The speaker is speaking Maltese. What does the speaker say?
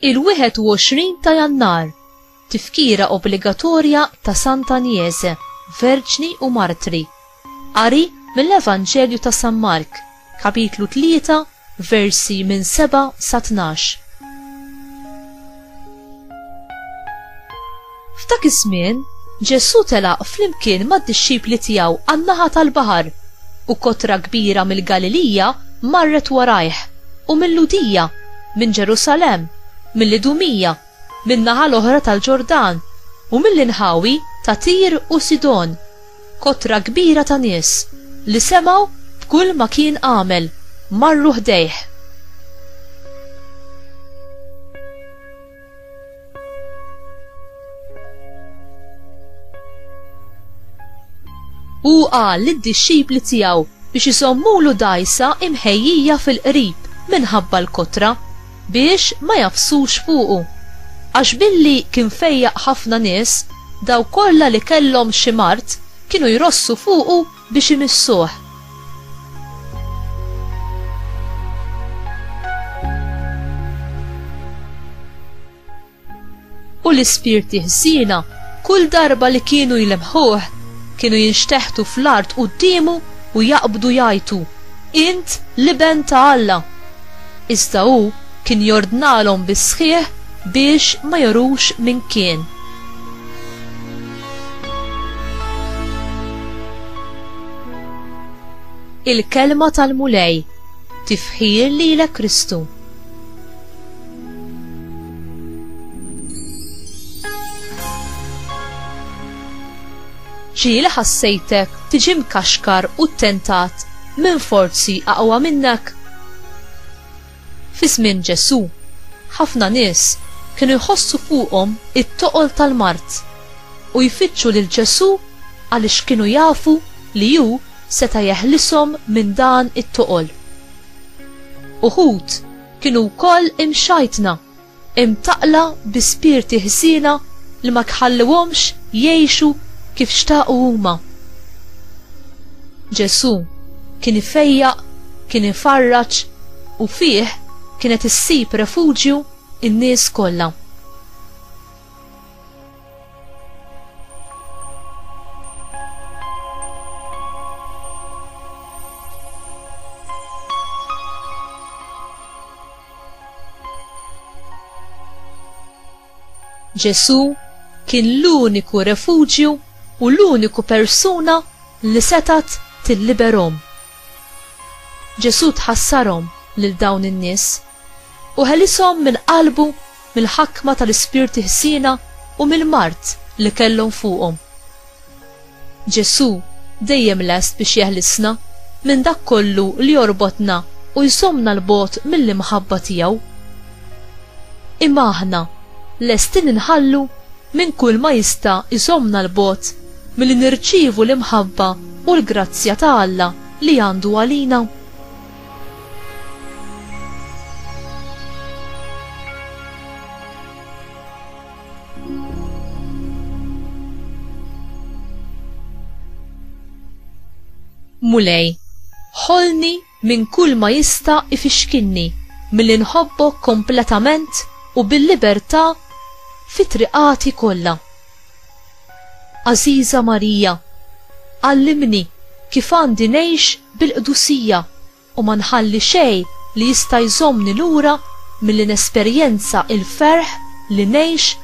Il-21 ta' jannar, tifkira obbligatorja ta' Santa Niese, Verġni u Martri. Qari mill-Evanġelju ta' San Mark, kapitlu 3, versi minn 7 sa 12. F'dak iż-żmien, Ġesù telaq flimkien mad-dixxipli tiegħu għan-naħa tal-baħar, u kotra kbira mill-Galilija marret warajh, u mil-Lhudija, minn Ġerusalemm, mill-Idumija, min-naħa l-oħra tal-Ġordan, u mill-inħawi ta' Tir u Sidon, kotra kbira ta' nies, li semgħu b'kull ma kien għamel, marru ħdejh. Hu qal lid-dixxipli tiegħu biex iżommulu dgħajsa imħejjija fil-qrib minħabba l-kotra. biex ma jagħfsux fuqu. Għax billi kien fejjaq ħafna nies, dawk kollha li kellhom xi mard kienu jrossu fuqu biex imissuh. U l-ispirti ħżiena kull darba li kienu jlemħuh kienu jinxteħtu fl-art quddiemu u jaqbdu jgħajtu, Int l-Iben ta' Alla! Iżda hu kien jordnalhom bis-sħiħ biex ma jorux min kien. Il-Kelma tal-Mulej, Tifħir lilek Kristu. Ġieli ħassejtek tiġi mkaxkar u ttentat minn forzi aqwa minnek? Fi żmien Ġesù, ħafna nies kienu jħossu fuqhom it-toqol tal-mard u jfittxu lil Ġesù għaliex kienu jafu li hu seta' jeħlishom minn dan it-toqol. Uħud kienu wkoll imxajtna, imtaqqla bi spirti ħsiena li ma tħalluhomx jgħixu kif xtaqu huma. Ġesù kien ifejjaq, kien ifarraġ, u fih kienet issib refuġju n-nies kollha. Ġesù kien l-uniku refuġju u l-uniku persuna li setat tilliberhom Ġesù tħassarhom lil dawn in-nies u ħelishom minn qalbu mill-ħakma tal-ispirti ħsiena u mill-mard li kellhom fuqhom. Ġesù dejjem lest biex jeħlisna minn dak kollu li jorbotna u jżommna 'l bogħod mill-imħabba tiegħu. Imma aħna lestin inħallu minn kulma jista' jżommna 'l bogħod milli nirċievu l-imħabba u l-grazzja ta' Alla li għandu għalina? Mulej, ħolni minn kull ma jista' ifixkinni milli nħobbok kompletament u bil-libertà fi triqati kollha. Għażiża Marija, għallimni kif għandi ngħix bil-qdusija u ma nħalli xejn li jista' jżommni lura milli nesperjenza l-ferħ li ngħix